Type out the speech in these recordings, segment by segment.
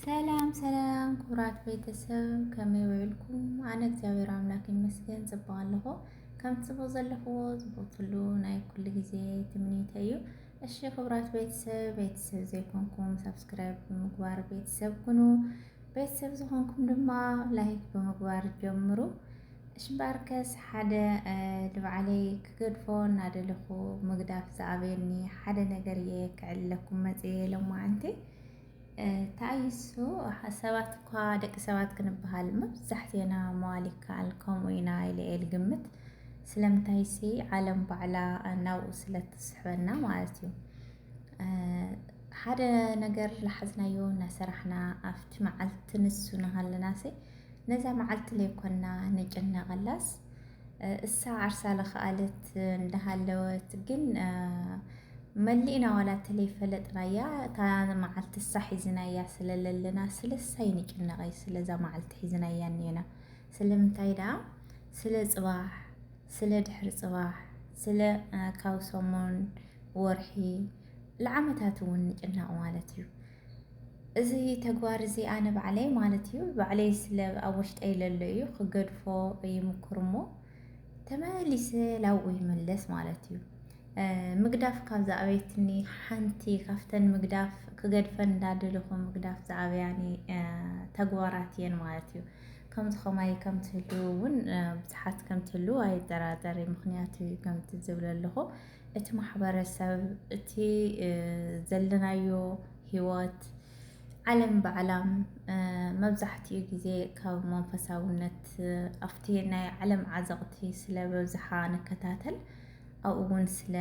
ሰላም ሰላም ክቡራት ቤተሰብ ከመይ ውዒልኩም? ኣነ እግዚኣብሔር ኣምላክ ይመስገን ጽቡቅ ኣለኹ። ከም ጽቡቅ ዘለኽዎ ዝቦትሉ ናይ ኩሉ ግዜ ትምኒተ እዩ። እሺ ክቡራት ቤተሰብ ቤተሰብ ዘይኮንኩም ሰብስክራይብ ብምግባር ቤተሰብ ኩኑ። ቤተሰብ ዝኾንኩም ድማ ላይክ ብምግባር ጀምሩ። እሺ ባርከስ ሓደ ድብዓለይ ክገድፎ እናደለኹ ምግዳፍ ዝኣበየኒ ሓደ ነገር እየ ክዕለኩም መጽየ ሎማዓንቲ ተኣይሱ ሰባት እኳ ደቂ ሰባት ክንበሃል መብዛሕትና መዋል ይከኣል ከምኡ ኢና ኢለ እየ ልግምት ስለምንታይሲ ዓለም ባዕላ ናብኡ ስለ ትስሕበና ማለት እዩ ሓደ ነገር ልሓዝናዮ እናሰራሕና ኣብቲ መዓልቲ ንሱ ንሃለናሲ ነዛ መዓልቲ ለይኮንና ንጭነቐላስ እሳ ዓርሳ ለኸኣለት እንዳሃለወት ግን መሊእና ዋላ ተለይ ፈለጥናያ እታ መዓልቲ እሳ ሒዝናያ ስለለለና ስለሳ ይንጭነቐይ ስለዛ መዓልቲ ሒዝናያ እኒና ስለምንታይ ደኣ ስለ ፅባሕ ስለ ድሕሪ ፅባሕ ስለ ካብ ሰሙን ወርሒ ንዓመታት እውን ንጭነቕ ማለት እዩ እዚ ተግባር እዚ ኣነ ባዕለይ ማለት እዩ ባዕለይ ስለ ኣብ ውሽጠይ ለሎ እዩ ክገድፎ ይምኩር እሞ ተመሊሰ ላብኡ ይመለስ ማለት እዩ ምግዳፍ ካብ ዝኣበየትኒ ሓንቲ ካብተን ምግዳፍ ክገድፈን እንዳደለኹ ምግዳፍ ዝኣበያኒ ተግባራት እየን ማለት እዩ ከምዚ ከማይ ከም ትህልው እውን ብዙሓት ከም ትህልው ኣይጠራጠር ምክንያቱ ከምቲ ዝብለ ኣለኹ እቲ ማሕበረሰብ እቲ ዘለናዮ ህይወት ዓለም ባዕላም መብዛሕትኡ ግዜ ካብ መንፈሳውነት ኣብቲ ናይ ዓለም ዓዘቕቲ ስለ በብዝሓ ንከታተል ኣብኡ እውን ስለ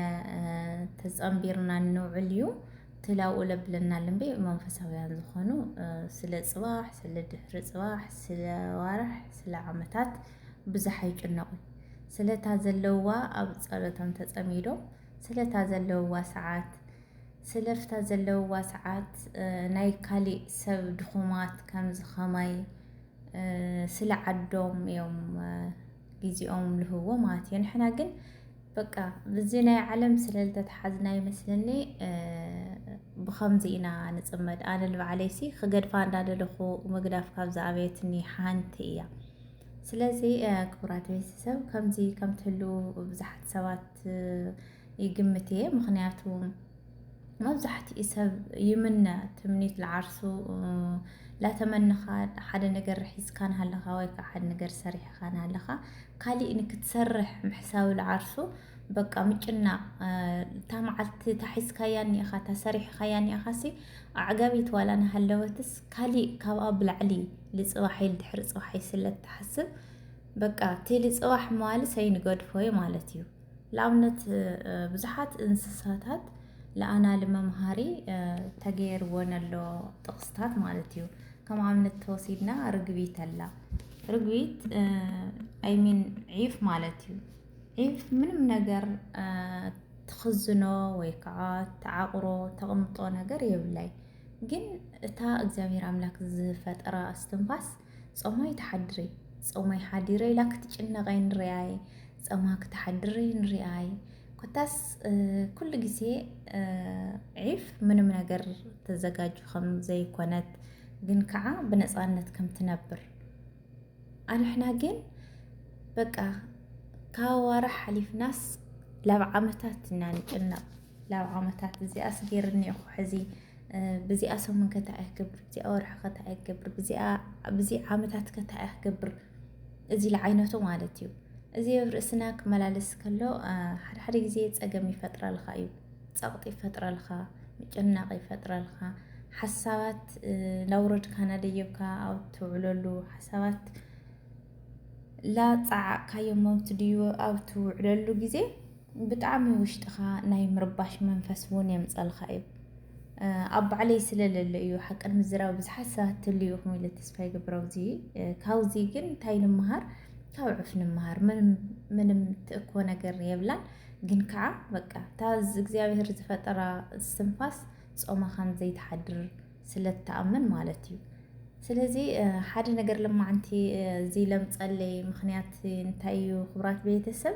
ተፀምቢርና እንውዕል እዩ ትላኡ ለብለና ልምቤ መንፈሳውያን ዝኾኑ ስለ ፅባሕ ስለ ድሕሪ ፅባሕ ስለ ዋርሕ ስለ ዓመታት ብዝሕ ኣይጭነቁ ስለታ ዘለዋ ኣብ ጸሎቶም ተጸሚዶ ስለታ ዘለዋ ሰዓት ስለፍታ ዘለዋ ሰዓት ናይ ካሊእ ሰብ ድኹማት ከምዚ ኸማይ ስለ ዓዶም እዮም ጊዜኦም ልህዎ ማለት እዩ ንሕና ግን በቃ ብዚ ናይ ዓለም ስለ ዝተተሓዝና ይመስለኒ ብኸምዚ ኢና ንፅመድ ኣነ ልባዕለይሲ ክገድፋ እንዳደለኹ ምግዳፍ ካብዚ ኣበየትኒ ሓንቲ እያ ስለዚ ክቡራት ቤተሰብ ከምዚ ከም ትህልው ብዙሓት ሰባት ይግምት እየ ምክንያቱ መብዛሕትኡ ሰብ ይምነ ትምኒት ለዓርሱ ላተመንኻ ሓደ ነገር ሒዝካ ንሃለኻ ወይ ከዓ ሓደ ነገር ሰሪሕኻ ንሃለኻ ካሊእ ንክትሰርሕ ምሕሳብ ለዓርሱ በቃ ምጭናቕ እታ መዓልቲ ታሒዝካያ እኒኢኻ ታሰሪሕኻያ እኒኢኻሲ ኣዕጋቢት ዋላ ናሃለወትስ ካሊእ ካብኣ ብላዕሊ ልፅባሕ ኢል ድሕሪ ፅባሕ ኢል ስለ ትሓስብ በቃ እቲ ልፅባሕ መዋሊ ሰይንገድፎ እዩ ማለት እዩ ንኣብነት ብዙሓት እንስሳታት ለኣናሊ መምሃሪ ተገይርወን ኣሎ ጥቕስታት ማለት እዩ ከም ኣብነት ተወሲድና ርግቢት ኣላ ርግቢት ኣይሚን ዒፍ ማለት እዩ ዒፍ ምንም ነገር ትኽዝኖ ወይ ከዓ ተዓቑሮ ተቕምጦ ነገር የብላይ ግን እታ እግዚኣብሔር ኣምላክ ዝፈጠራ እስትንፋስ ጾማ ይትሓድሪ ጾማ ይሓዲረ ኢላ ክትጭነቀይ ንርኣይ ጾማ ክትሓድሪ ንርኣይ ኮታስ ኩሉ ግዜ ዒፍ ምንም ነገር ተዘጋጁ ከም ዘይኮነት ግን ከዓ ብነፃነት ከም ትነብር ኣንሕና ግን በቃ ካብ ኣዋርሕ ሓሊፍናስ ላብ ዓመታት ኢና ንጭነቅ ላብ ዓመታት እዚኣ ኣስጌርኒ እኮ ሕዚ ብዚኣ ሰሙን ከታዕ ክገብር ብዚኣ ወርሒ ከታዕ ክገብር ብዚ ዓመታት ከታዕ ክገብር እዚ ለዓይነቱ ማለት እዩ እዚ ኣብ ርእስና ክመላለስ ከሎ ሓደ ሓደ ግዜ ፀገም ይፈጥረልካ እዩ ፀቕጢ ይፈጥረልካ ምጭናቕ ይፈጥረልካ ሓሳባት ናውረድካ ናደየብካ ኣብ ትውዕለሉ ሓሳባት ላፀዓቕካዮ መምት ድዩ ኣብ ትውዕለሉ ግዜ ብጣዕሚ ውሽጥኻ ናይ ምርባሽ መንፈስ እውን የምፀልኻ እዩ ኣብ ባዕለይ ስለለለ እዩ ሓቅን ምዝራብ ብዙሓት ሰባት ትልዩ ኢኹም ኢለ ተስፋ ይገብር ኣብዚ ካብዚ ግን እንታይ ንምሃር ካብ ዕፍ ንምሃር ምንም ምንም ትእኮ ነገር የብላን ግን ከዓ በቃ እታ እግዚኣብሔር ዝፈጠራ ስንፋስ ጾማ ከም ዘይትሓድር ስለትኣምን ማለት እዩ ስለዚ ሓደ ነገር ለማዓንቲ እዚ ለምፀለይ ምክንያት እንታይ እዩ ክብራት ቤተሰብ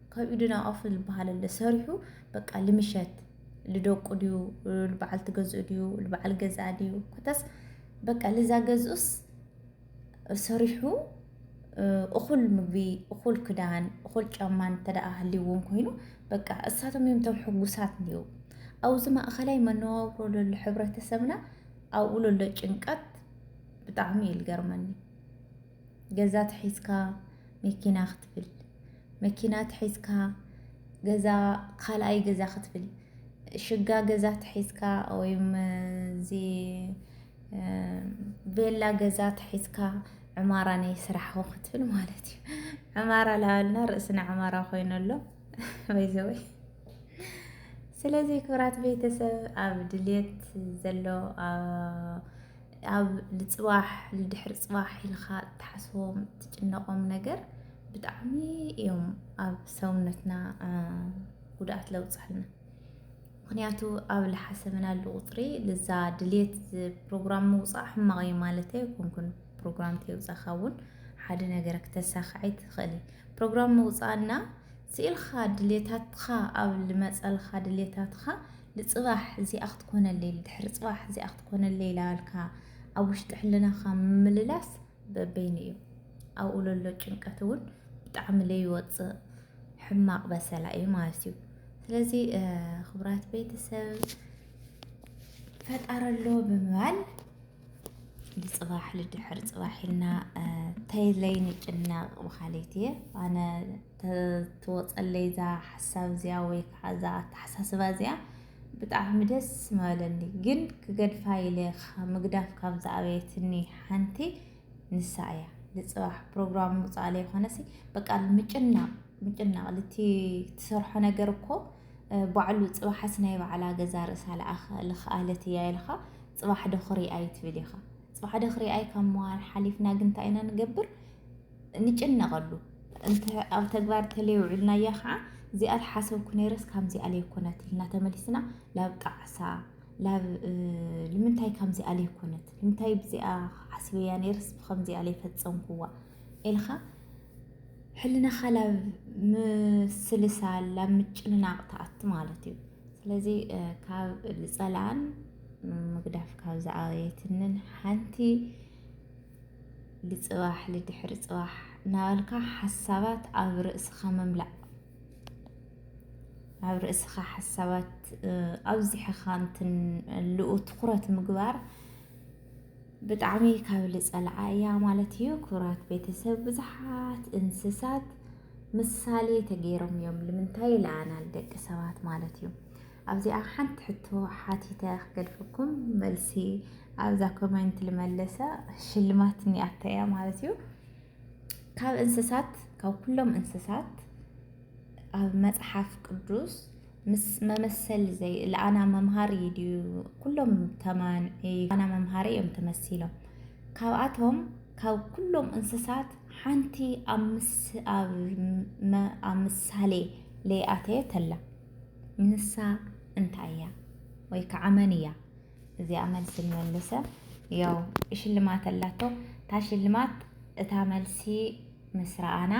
ካብ ኢድና ኦፍ ዝበሃል ኣሎ ሰሪሑ በቃ ልምሸት ልደቁ ድዩ ልበዓል ትገዝኡ ድዩ ልበዓል ገዝኣ ድዩ ኮታስ በቃ ልዛ ገዝኡስ ሰሪሑ እኹል ምግቢ እኹል ክዳን እኹል ጫማ እንተደኣ ሃልይዎም ኮይኑ በቃ እሳቶም እዮም ቶም ሕጉሳት እንዲዩ ኣብዚ ማእኸላይ መነባብሮ ለሎ ሕብረተሰብና ኣብኡ ለሎ ጭንቀት ብጣዕሚ እዩ ልገርመኒ ገዛ ተሒዝካ መኪና ክትብል፣ መኪና ተሒዝካ ገዛ ካልኣይ ገዛ ክትብል፣ ሽጋ ገዛ ተሒዝካ ወይም እዚ ቤላ ገዛ ተሒዝካ ዕማራ ናይ ስራሕኹ ክትብል ማለት እዩ። ዕማራ ላበልና ርእስና ዕማራ ኮይኑ ኣሎ ወይዘወይ። ስለዚ ክብራት ቤተሰብ ኣብ ድሌት ዘሎ ኣብ ልፅባሕ ልድሕሪ ፅባሕ ኢልካ እትሓስቦም እትጭነቆም ነገር ብጣዕሚ እዮም ኣብ ሰውነትና ጉድኣት ለውፅሕልና ምክንያቱ ኣብ ልሓሰብናሉ ቁፅሪ ልዛ ድሌት ፕሮግራም ምውፃእ ሕማቕ እዩ ማለት ኣይኮንኩን ፕሮግራም ተይውፃእካ እውን ሓደ ነገር ክተሳክዐይ ትኽእል ፕሮግራም ምውፃእና ስኢልካ ድሌታትካ ኣብ ልመፀልካ ድሌታትካ ንጽባሕ እዚኣ ክትኮነለይ ንድሕሪ ጽባሕ እዚኣ ክትኮነለይ ላበልካ ኣብ ውሽጢ ሕልናኻ ምምልላስ በበይኑ እዩ። ኣብኡ ለሎ ጭንቀት እውን ብጣዕሚ ለይወፅእ ሕማቕ በሰላ እዩ ማለት እዩ። ስለዚ ክቡራት ቤተሰብ ፈጣሪ ኣሎ ብምባል ንፅባሕ ልድሕር ፅባሕ ኢልና ተይለይ ንጭነቕ በሃሊት እየ ኣነ ትወፀለይ እዛ ሓሳብ እዚኣ ወይ ከዓ እዛ ኣተሓሳስባ እዚኣ ብጣዕሚ ደስ ምበለኒ ግን ክገድፋ ኢለ ምግዳፍ ካብ ዝኣበየትኒ ሓንቲ ንሳ እያ ንፅባሕ ፕሮግራም ምውፃእ ላይ ኮነሲ በቃ ምጭናቕ ምጭናቕ ልቲ ትሰርሖ ነገር እኮ ባዕሉ ፅባሓስ ናይ ባዕላ ገዛ ርእሳ ልኽኣለት እያ ኢልኻ ፅባሕ ዶ ክሪኣይ ትብል ኢኻ ፅባሕ ዶ ክሪኣይ ካብ ምባል ሓሊፍና ግን እንታይ ኢና ንገብር ንጭነቐሉ እንተ ኣብ ተግባር ተለየውዕልናያ ኸዓ እዚኣ ተሓሰብኩ ነይረስ ካምዚ ኣለይኮነት ኢልና ተመሊስና ላብ ጣዕሳ ላብ ልምንታይ ካምዚ ኣለይኮነት ልምንታይ ብዚኣ ሓስበያ ነይረስ ብከምዚ ኣለይፈፀምኩዋ ኢልኻ ሕልናኻ ላብ ምስልሳል ላብ ምጭንናቕ ተኣቲ ማለት እዩ ስለዚ ካብ ዝፀላኣን ምግዳፍ ካብ ዝኣየትንን ሓንቲ ልፅባሕ ልድሕሪ ፅባሕ እናበልካ ሓሳባት ኣብ ርእስኻ ምምላእ ኣብ ርእስኻ ሓሳባት ኣብዚሕኻ እንትን ልኡ ትኹረት ምግባር ብጣዕሚ ካብ ልፀልዓ እያ ማለት እዩ። ክቡራት ቤተሰብ ብዙሓት እንስሳት ምሳሌ ተገይሮም እዮም ልምንታይ ለኣናል ደቂ ሰባት ማለት እዩ። ኣብዚኣ ሓንቲ ሕቶ ሓቲተ ክገድፈኩም መልሲ ኣብዛ ኮሜንት ልመለሳ ሽልማት ኒኣታ እያ ማለት እዩ ካብ እንስሳት ካብ ኩሎም እንስሳት ኣብ መጽሓፍ ቅዱስ ምስ መመሰል ዘይ ለኣና መምሃሪ ድዩ ኩሎም ተማን ኣና መምሃሪ እዮም ተመሲሎም ካብኣቶም ካብ ኩሎም እንስሳት ሓንቲ ኣብ ምሳሌ ለይኣተየ ተላ ንሳ እንታይ እያ ወይ ከዓ መን እያ? እዚኣ መልሲ ንመልሰ ያው ሽልማት ኣላቶ እታ ሽልማት እታ መልሲ ምስ ረኣና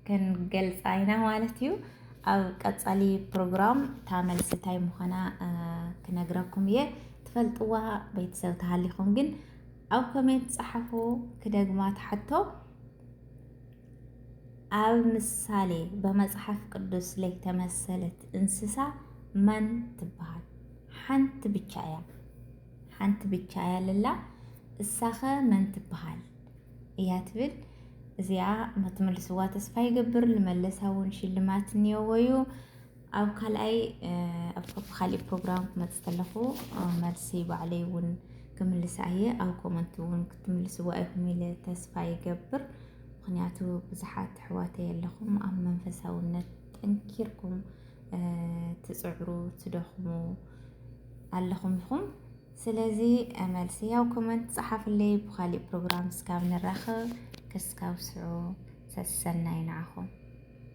ክንገልፃ ኢና ማለት እዩ። ኣብ ቀፃሊ ፕሮግራም እታ መልሲ እንታይ ምዃና ክነግረኩም እየ። ትፈልጥዋ ቤተሰብ ተሃሊኹም ግን ኣብ ኮሜንት ፀሓፉ ክደግማ ትሓቶ ኣብ ምሳሌ በመጽሓፍ ቅዱስ ለይተመሰለት እንስሳ መን ትበሃል? ሓንቲ ብቻ እያ ሓንቲ ብቻ እያ ልላ እሳኸ መን ትበሃል እያ ትብል እዚኣ መትምልስዋ ተስፋ ይገብር ልመለሳ እውን ሽልማት እኒኦዎ እዩ ኣብ ካልኣይ ኣብ ካሊእ ፕሮግራም ክመፅእ ከለኹ መልሲ ባዕለይ እውን ክምልስ ኣየ ኣብ ኮመንት እውን ክትምልስዎ ኣይኩም ኢለ ተስፋ ይገብር። ምክንያቱ ብዙሓት ኣሕዋተይ ኣለኹም ኣብ መንፈሳውነት ጠንኪርኩም ትፅዕሩ ትደኽሙ ኣለኹም ኢኹም። ስለዚ መልሲ ያው ኮመንት ፀሓፍለይ ብካሊእ ፕሮግራም እስካብ ንራኸብ ክስካብ ስዑ ሰሰናይ ንዓኹም።